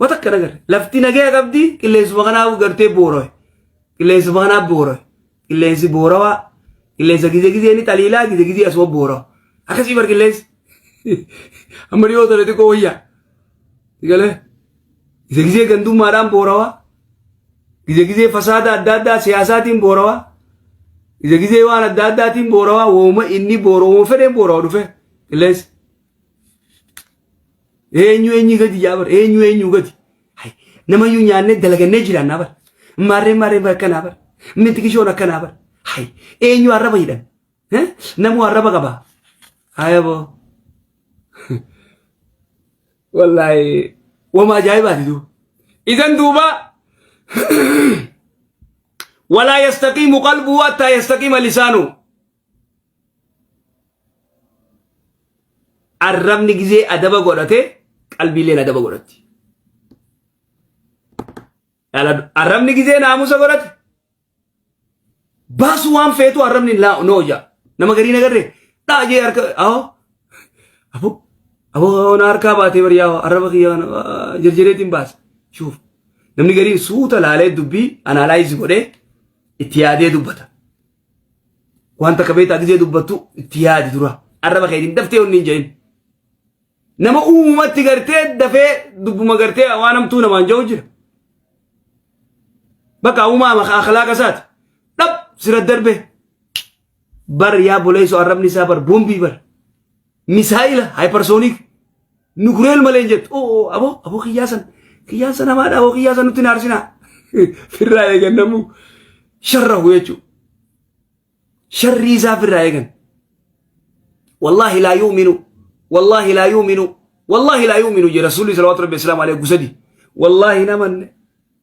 Wata kana gar lafti nagaya qabdi qilleensuma kanaa gartee booroe qilleensuma kanaa booroe qilleensi boorawaa qilleensa gizee gizee ni xaliilaa gizee gizee asuma boorawa akkasii bar qilleensi amma dhiyoo tole xiqqoo wayyaa galee gizee gizee gandummaadhaan boorawaa gizee gizee fasaada adda addaa siyaasaatiin boorawaa gizee gizee waan adda addaatiin boorawaa wooma inni boora wooma fedheen boorawa dhufe qilleensi Eenyu eenyu gadi yaa bar eenyu eenyu gadi. Hai, Namayyuu nyaannee dalagannee jiraannaa bar. Maarreen maarreen bar akkanaa bar. Miti kishoon akkanaa bar. Hai, Eenyu arraba hidhan. Eh? Namuu arraba qabaa. Ayaboo. Wallaahi wama ajaa'ibaati duu. Isan duuba walaa yastaqiimu qalbuu hattaa yastaqiima lisaanuu. Arrabni gizee adaba godhate qalbiilleen adaba godhatti. Dhaladhu. Arrabni gizee naamusa godhate baasu waan feetu arrabni laa noo jaa. Nama garii nagarre dhaa jee harka ahoo aboo aboo na harkaa baatee bari yaa arraba kiyya kana, ah, jirjireetiin baasa. Shuuf namni gariin suuta laalee dubbii anaalaayizi godhee itti yaadee dubbata. Waan takka beektaa gizee dubbattu itti yaadi dura. Arraba keetiin daftee wanni hin jedhin. Nama uumumatti gartee dafee dubbuma gartee waan hamtuu namaan ja'u jira. Bakka uumaama akhlaaqa isaati. Dhab sira darbee. Bar yaa boleessu arrabni isaa bar boombii bar. misaayila haayiparsooniik nukureel malee hin jettu oo oo aboo aboo kiyyaa san kiyyaan san hamaadha aboo kiyyaa san nutti hin aarsinaa firraa eegan namuu sharrahu jechuu sharrii isaa firraa eegan wallaahi laa yuuminu wallaahi laa yuuminu wallaahi laa yuuminu jee rasuulli salawaatu rabbi islaam alee gusadii wallaahi namanne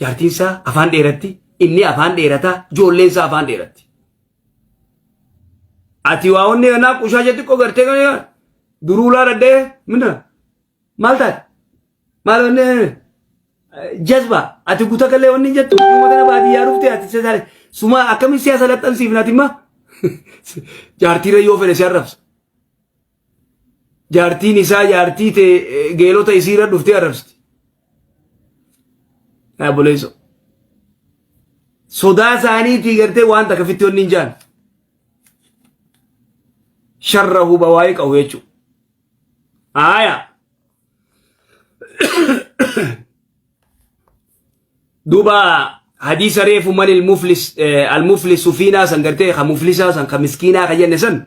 Jaartiin isaa afaan dheeratti, inni afaan dheerata, ijoolleen isaa afaan dheeratti. Ati waa onni kanaa qushaa jetti qo gartee kan yaa duruu laa dhaddee minna maal taate maal onni jazba ati guta kallee onni jettu uummata na baadiyyaa dhufte ati sesaale suma akkamiin siyaasa laxxansiifna ati immaa jaartiirra yoo fedhe si arrabsa. jaartiin isaa jaartii tee eh, geelota isiirra dhuftee arrabsiti. Yaa buleeso. Sodaa isaaniitii gartee waan takka fitti wanni hin jaan. Sharra huba waa'ee qabu jechuudha. Aaya. Duuba hadiisa reefu mali al-muflis eh, al-muflisu fiinaa san gartee ka muflisaa san ka miskiinaa ka jenne san.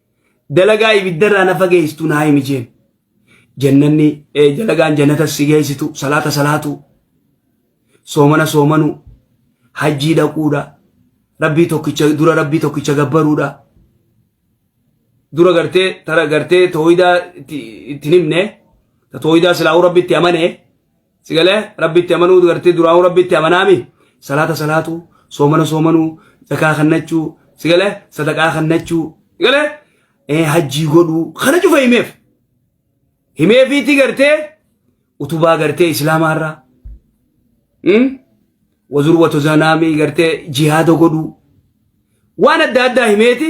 dalagaa ibiddarraa na fageessitu naa himi jeen jannanni eh, dalagaan jannata si geessitu salaata salaatu soomana soomanu hajjii dhaquudha rabbii tokkicha dura rabbii tokkicha gabbaruudha dura gartee tara gartee tooyidaa itti itti hin himne ta tooyidaa silaa'uu rabbi itti amane Sigalee rabbitti amanuu gartee duraanuu rabbitti amanaami salaata salaatuu soomana soomanuu zakaa kannachuu sigalee sadaqaa kannachuu sigalee eh, hajjii godhuu kana cufa himeef himeefiitti gartee utubaa gartee islaamaarraa hmm? wazurwatu zanaamii gartee jihaada godhuu waan adda addaa himeeti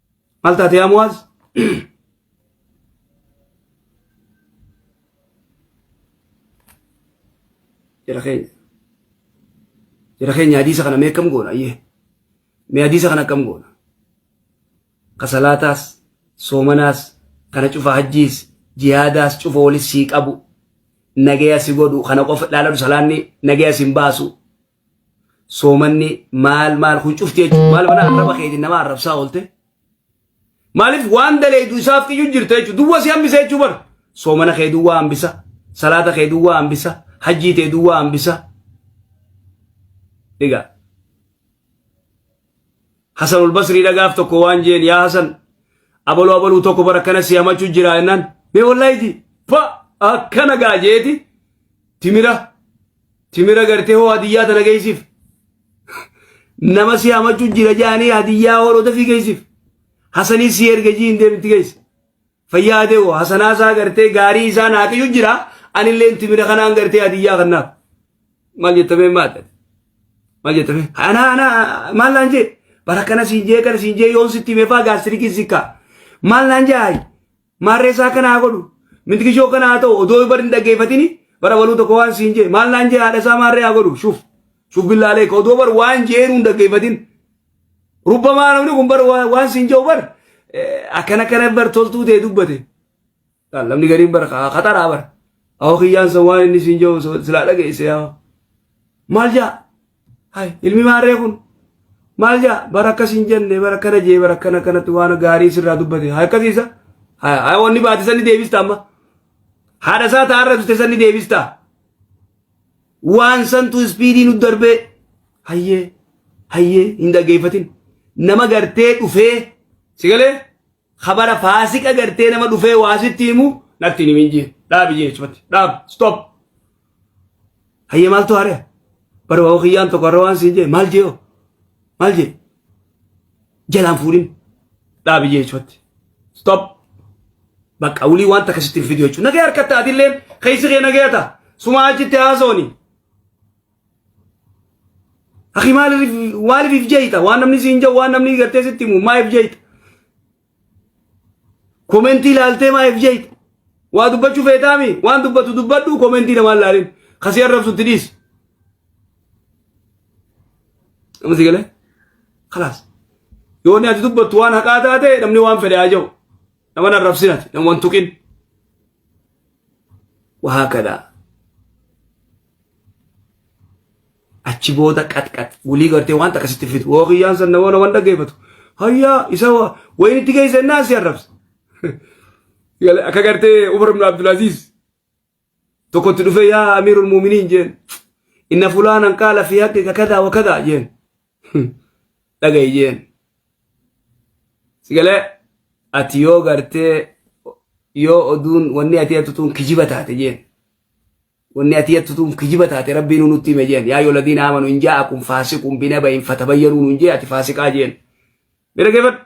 Maal taate yaa Muwaaz? Jara keenya. Jara keenya hadiisa kana mee akkam goona ayyee? Mee hadiisa kana akkam goona? Ka salaataas, soomanaas, kana cufa hajjiis, jihaadaas cufa walis sii qabu. Nagaya si godhu kana qofa ilaalatu salaanni nagaya sin baasu. soomanni maal maal kun cufti jechuudha. Maal mana arraba keetiin nama arrabsaa oolte. Maaliif waan daleedu isaaf xiyyu jirta jechuudha. Duwwa si hambisa jechuu bar. Soomana kee duwwa hambisa. Salaata kee duwwa hambisa. Hajjii tee duwwa hambisa. Dhiga. Hasan Ulbasrii dhagaaf tokko waan jeen yaa Hasan abaluu abaluu tokko bara akkana si hamachuu jira jennaan. Mee wallaayiti fa akkana gaajeeti timira Timira gartee hoo hadiyyaa tana geessif. Nama si hamachuu jira jaanii hadiyyaa hooloo dafii geessif. Hasanii si erga jii hin deemti geessi. Fayyaa ta'e hoo hasanaa isaa gartee gaarii isaa naaqiyyu jira anillee timira kanaan gartee hadiyyaa kannaaf. Maal jettamee maadha? Maal jettamee? Anaa anaa maal naan jee? Bara kana siin jee kana siin jee yoon sitti himee faa gaastirikii sikkaa. Maal naan jee? Maarree isaa kana haa godhu. Mintigishoo kana haa ta'u odoo bar hin dhaggeeffatini bara baluu tokko waan siin jee maal naan jee haadha isaa maarree haa godhu shuf shuf billaalee ka odoo bar waan jeenu hin dhaggeeffatin. Rubbamaa namni kun bar waa- waan siin jeu bar eh, akkana akkana bar toltuu ta'e dubbate. Laal, Namni gariin bar ka- kaxaraa bar. Awoo kiyyaan san waan inni siin jeu silaa dhageesse yaa. Maal jaa? Hay ilmi maarree kun maal jaa bara akkas hin jenne bara akkana jee bara akkana kanatti waan gaarii sirraa dubbate haa akkasiisa haa haa wanni baate sanni deebista amma haadha isaa taa'arra dute sanni deebista waan santu ispiidii nu darbee hayyee hayyee hin dhaggeeffatin nama gartee dhufee si galee Kabara faasika gartee nama dhufee waa sitti himu natti hin himin jee. Dhaabi jee jechumatti. Dhaab. Stop. Hayyee maaltu haari'a? Bara waa kiyyaan tokko har'a waan siin jee maal jee hoo? Maal jee? Jalaan fuudhin. Dhaabi jee jechumatti. Stop. Bakka wulii waan takka sitti hin fidu jechuudha. Nagee harkatti atillee keessi kee nagee ta'a. Sumaa achitti haasooni. Akhi maaliif maaliif if jeeyta waan namni siin jedhu waan namni gartee sitti himu maa if jeeyta. Komentii ilaaltee maa if jeeyta. Waa dubbachuu feetaami waan dubbatu dubbadhu komentii namaa ilaalin kasii arrabsutti dhiisi. Amma si galee? Kalaas. Yoo inni ati dubbattu waan haqaa taate namni waan fedhe haa jedhu. Nama na arrabsinati nama waan tuqin. وهكذا achi booda qaxqax wulii gartee waan takka sitti fidu woo kiyyaan san namoota waan dhaggeeffatu hayyaa isa waa wayin itti geesse innaa si arrabsa akka gartee Umar ibn Abdulaziz tokkotti dhufee yaa amiirul muuminiin jeen inna fulaanan qaala fi haqqi kadaa wa kadaa jeen dhaga'i jeen sigalee ati yoo gartee yoo oduun wanni ati hattutuun kijiba taate jeen wanni ati hattutuun kijiba taate rabbiin nutti hime jeen yaa yoo ladiin aamanu hin jaa akun faasiqun binaba hin fatabayyanuu nun jee ati faasiqaa jeen bira geeffadhu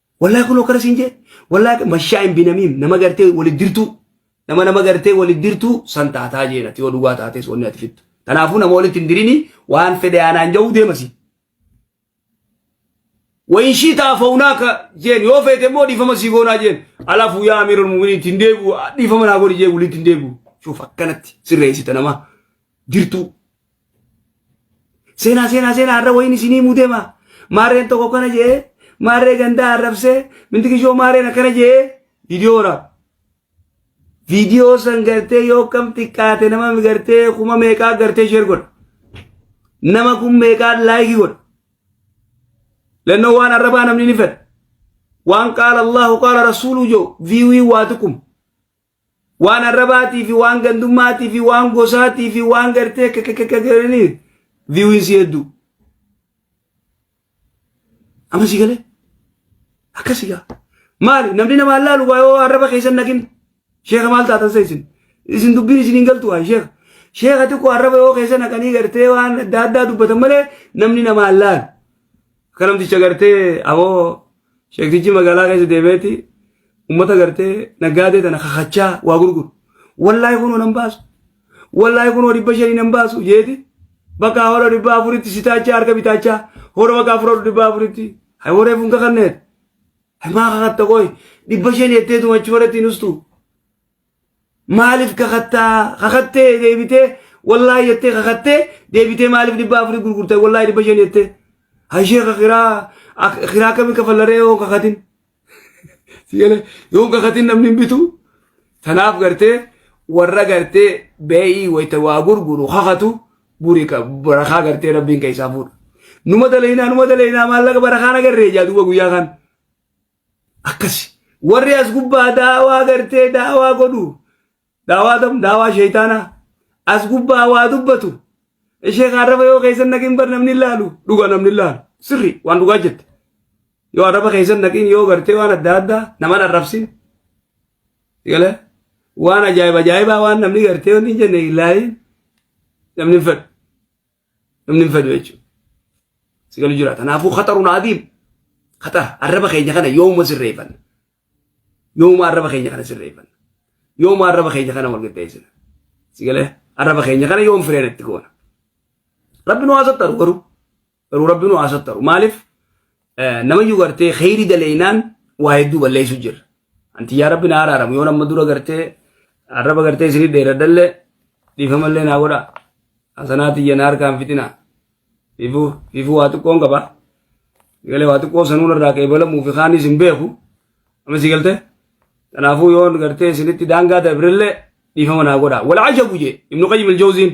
Wallahi kunoo kana siin jee wallahi mashaa hin binamiim nama gartee wali dirtuu nama nama gartee wali dirtuu san taataa jeen ati yoo dhugaa taatees wanni ati fittu. Kanaafuu nama walitti hin dirini waan fedhe aanaan ja'uu deemasi. Wayin shii ta'a faunaa ka jeen yoo feete immoo dhiifama sii goonaa jeen alafu yaa amiirul mu'miniin ittiin deebi'u dhiifama naa godhi jee walitti hin deebi'u. Shuuf akkanatti sirreessita namaa. jirtuu. Seenaa seenaa seenaa har'a wayiin isinii muudema. Maarreen tokko kana jee maarree gandaa arrabsee mintikishoo maarreen akkana jee viidiyoo waraaba. Viidiyoo san gartee yoo kam xiqqaate nama gartee kuma meeqaa gartee sheer godha. Nama kun meeqaa laayikii godha. Lannoo waan arrabaa namni ni fedha. Waan qaala Allahu qaala Rasuuluu joo viiwii waa tuqum. waan arrabaatii fi waan gandummaatii fi waan gosaatii fi waan gartee kakakakakaranii viiwiinsi hedduu. Amma si galee akkasi gaa maali namni nama allaalu waa yoo arraba keessan naqin sheeka maal taatan sa isin isin dubbiin isin hin galtu waa sheeka sheeka xiqqoo arraba yoo keessa naqanii gartee waan adda addaa dubbatan malee namni nama allaalu Akka namticha gartee aboo sheektichi magaalaa keessa deemeeti uummata gartee naggaadee tana kakachaa waa gurguru. Wallaahi kunoo nan baasu. Wallaahi kunoo dhibba shanii nan baasu jeeti. Bakka hora dhibba afuritti sitaachaa harka bitaachaa hora bakka afur dhibba afuritti. Hay waree funka kanneet. Hay maa kakatta qoy dhibba shanii jetteetu machi horatti hin ustu. Maaliif kakattaa? Kakattee deebitee wallaahi jettee kakattee deebitee maaliif dhibba afurii gurgurta wallaahi dhibba shan jettee. Hashee kakiraa kiraa kami kafallaree yoo kakatin. Sigalee yoo kakatin namni hin bitu. Tanaaf gartee warra gartee beeyii wayita waa gurguru kakatu buri ka- barakaa gartee rabbiin keessaa fuudha. Numa dalaynaa numa dalaynaa maallaqa barakaan agarree jaa duuba guyyaa kan. akkasi warri as gubbaa daawaa gartee daawaa godhu daawaa tam daawaa sheeytaanaa as gubbaa waa dubbatu ishee kan arraba yoo keessan naqin bar namni hin laalu dhuga namni hin laalu sirri waan dhugaa jette yoo arraba keessan naqin yoo gartee waan adda addaa naman arrabsin gala waan ajaa'iba ajaa'ibaa waan namni gartee wanni hin jenne hin laalin namni hin fedhu namni hin fedhu jechuudha. Si galu jira. Kanaafuu khaxaruun adiim khaxara arraba keenya kana yooma sirreeffanna. Yooma arraba keenya kana sirreeffanna. Yooma arraba keenya kana wal qixxeessina. Si galee arraba keenya kana yoom fireen itti goona. Rabbi nu haasattaru garuu. Garuu rabbi nu haasattaru. Maaliif? Namayyuu gartee kheyri daleeynaan waa hedduu balleeysu jirra. Anti yaa rabbi na araaramu yoo nama dura gartee arraba gartee isinii dheeradhalle dhiifamallee naa godha. Hasanaa tiyya na harkaan fixina. Fiifuu fiifuu waa xiqqoon qaba. Galee waa xiqqoo sanuun irraa qeebalamuu fi kaanis hin beeku. Amma si galtee? Kanaafuu yoo gartee isinitti daangaa dabrillee dhiifama naa godha. Wal ajabu jee Ibnu Qayyim Aljawziin.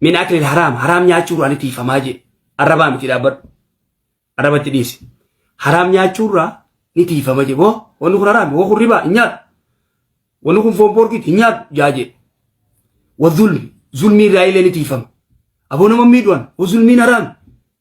min akli haraam haraam nyaachuurraa ni tiifamaa jee arrabaa miti dhaabbadhu arrabatti dhiisi haraam nyaachuurraa ni tiifama jee boo wanni kun haraami woo kun ribaa hin nyaadhu wanni kun foon poorkiiti hin nyaadhu jaa jee wa zulmi zulmii irraa illee ni tiifama aboo nama miidhuwan wa zulmiin haraami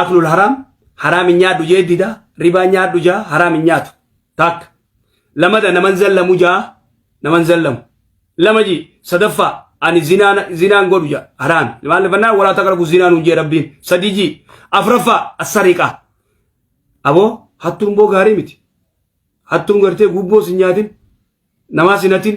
aklul haraam haraam hin nyaadhu jee dida ribaa nyaadhu jaa haraam hin nyaatu taakka lamada naman zallamu jaa naman zallamu lama ji sadaffaa ani zinaan zinaan godhu jaa haraam maal fannaa walaa taqrabu zinaan hin jee rabbiin sadii ji afraffaa assariqaa aboo hattuun boo gaarii miti hattuun gartee gubboo sin nyaatin namaa sin hatin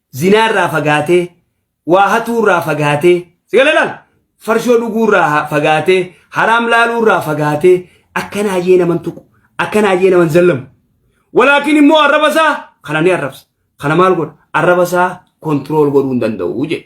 zinaa irraa fagaatee waa hatuu irraa fagaatee si galalaan farshoo dhuguu irraa ha- fagaatee haraam laaluu irraa fagaatee akka naajee naman tuqu akka naajee naman zallamu walaakin immoo arraba isaa kana ni arrabsa kana maal godha arraba isaa kontirool godhuu hin danda'u jedhe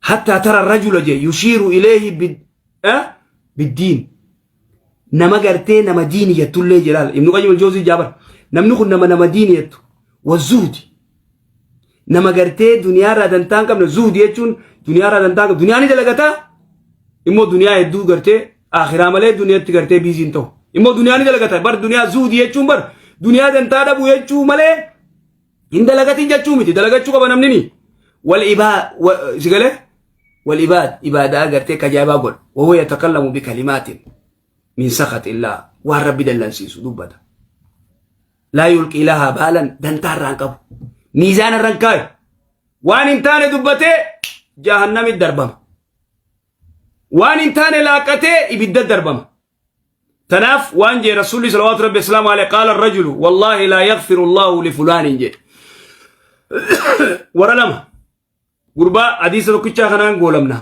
hattaa tara rajula je yushiiru ileehi bid- eh, biddiin nama gartee nama diini jettullee jelaal ibnu qayyim aljoozii jaabar namni kun nama nama diini jettu wazuhdi nama gartee duniyaarraa dantaan qabne zuhdi jechuun duniyaarraa dantaan qabne duniyaa ni dalagataa immoo duniyaa hedduu gartee akhiraa malee duniyaatti gartee biiziin ta'u immoo duniyaa ni dalagata bar duniyaa zuhdi jechuun bar duniyaa dantaa dhabu jechuu malee Hin dalagatin jechuu miti dalagachuu qaba namnini. Wal ibaa si galee wal ibaad ibaadaa agartee kajaabaa godha. Wawoo yatakallamu bi kalimaatin min sakat illaa waan rabbi dallansiisu dubbata. Laa yulqii lahaa baalan dantaa irraan qabu. Miizaana irraan kaayu. Waan hin taane dubbatee jahannamit darbama. Waan hin taane laaqatee ibidda darbama. Tanaaf waan jee Rasuulli salawaatu rabbi islaamu alee qaala rajulu wallaahi laa yaghfiru Allahu li fulaanin jee. Wara lama gurbaa hadiisa tokkichaa kanaan goolamna.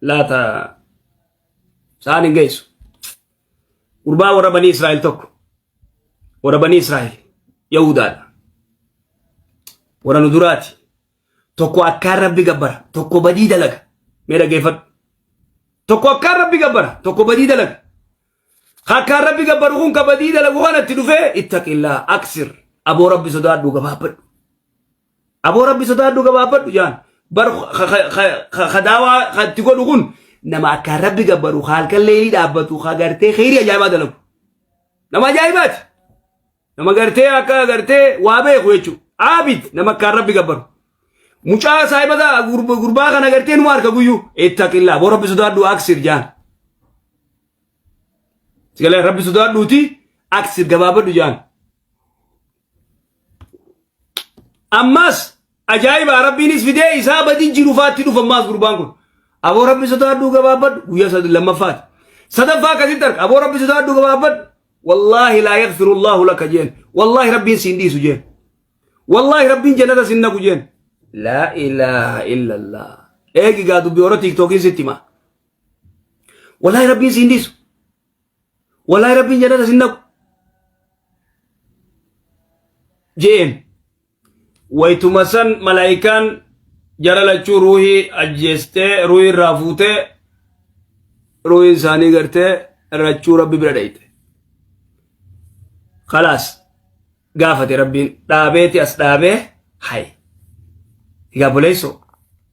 Laata saan hin geessu. Gurbaa warra banii Israa'el tokko warra banii Israa'el Yahudaadha. Warra nu duraati. tokko akkaan rabbi gabbara tokko badii dalaga mee dhageeffadhu tokko akkaan rabbi gabbara tokko badii dalaga akkaan rabbi gabbaru kun ka badii dalagu kanatti dhufee ittaqillaa aksir aboo rabbi sodaadhu gabaabbadhu aboo rabbi sodaadhu gabaabbadhu jaan bar kadaawaa katti godhu kun nama akkaan rabbi gabbaru halkan leelii dhaabbatu ka gartee kheyrii ajaa'ibaa dalagu nama ajaa'ibaati Nama gartee akka gartee waa beeku jechuudha. Aabid nama akkaan rabbi gabbaru. Mucaa saahibata gurba- gurbaa kana gartee numa harka guyyuu. Ittaqillaa boo rabbi sodaadhu aksir jaan. Sigalee rabbi sodaadhuuti aksir gabaabadhu jaan. Ammas ajaa'iba rabbiinis fidee isaa badii jiru faatti dhufa ammaas gurbaan kun. Aboo rabbi sodaadhu gabaabadhu guyyaa sad- lammaffaati. Sadaffaa akkasitti arga aboo rabbi sodaadhu gabaabadhu wallaahi laa yagfiru allaahu laka jeen wallaahi rabbiin siin dhiisu jeen wallaahi rabbiin jannata sin nagu jeen laa ilaaha illa allah eegi gaa dubbi hora tiiktookiin sitti himaa wallaahi rabbiin siin dhiisu wallaahi rabbiin jannata sin nagu jeen waytuma san malaa'ikaan jara lachuu ruuhii ajjeestee ruuhii irraa fuutee ruuhiin isaanii gartee rachuu rabbi bira dhayte khalaas gaafate rabbiin dhaabeeti as dhaabee hay egaa buleessoo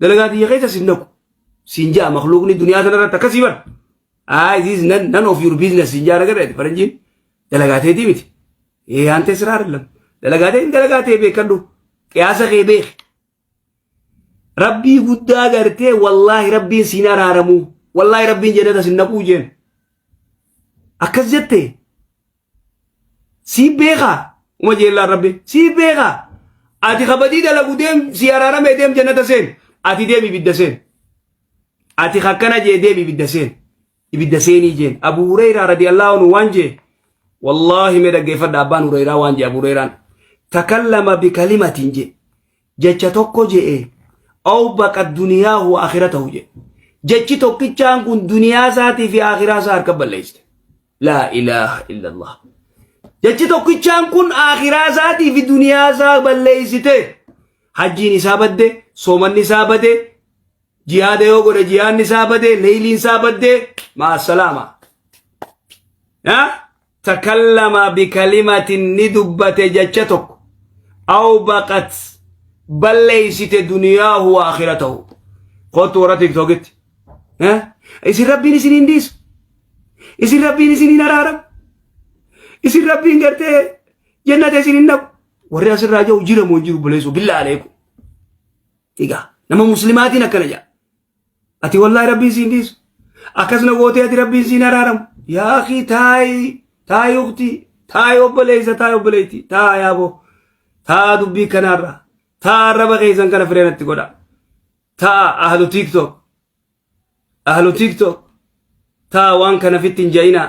dalagaa tiyya keessa sin naqu siin ja'a makluuqni duniyaa tanarratti akkasii bar aa isiis nan nan of your business siin ja'a nagadha faranjiin dalagaa teetii miti ee aan tee siraa arlam dalagaa tee dalagaa tee beekadhu qiyaasa kee beeki rabbii guddaa gartee wallaahi rabbiin siin araaramuu wallaahi rabbiin jennata sin naquu jeen akkas jettee Si beekaa uma jeellaan rabbi si beekaa ati kabadii dalagu deem si araarame deem jannata seen ati deem ibidda seen ati kakkana jee deem ibidda seen ibidda seenii jeen abu hureyraa radiyallahu anhu waan jee wallaahi mee dhaggeeffadha abbaan hureyraa waan jee abu hureyraan takallama bikalimatiin jee jecha tokko je'e aw baqat duniyaahu wa akhiratahu jedhe jechi tokkichaan kun duniyaa isaatii fi akhiraa isaa harka balleessite laa ilaaha illallah jechi tokkichaan kun akhiraa isaatii fi duniyaa isaa balleessite hajjiin isaa badde soomanni isaa bade jihaada yoo godhe jihaanni isaa bade leeyliin isaa badde maasalaama takallama bikalimatin ni dubbate jecha tokko aw baqat balleeysite duniyaahu wa akhiratahu kottu warra tiktokitti Eh? isin rabbiin isin hin dhiisu isin rabbiin isin hin araaramu isin rabbiin gartee jennata isin hin dhabu warri asirraa jiru jiramu hin jiru buleessu billaa aleeku egaa nama muslimaatiin akkana jedha Ati wallahi rabbiin siin dhiisu. Akkasna gootee ati rabbiin siin araaramu. Yaa akii taayi taayi ukti taayi obboleessa taayi obboleetti taayi aboo taa dubbii kanaarra taa arraba keessan kana fireenatti godha. Taa ahlu tiktok ahlu tiktok taa waan kana fitti hin ja'inaa.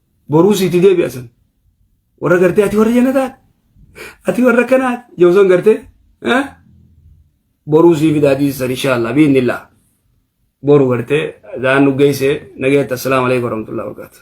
Boruu siiti deebi'a san. Warra gartee ati warra jannataati. Ati warra kanaati. Yoo san gartee boruu sii fidaa dhiisan inshaallah biinnillaa. Boru gartee daan nu geessee nageetta assalaamu alaikum warahmatullahi wabarakatuh.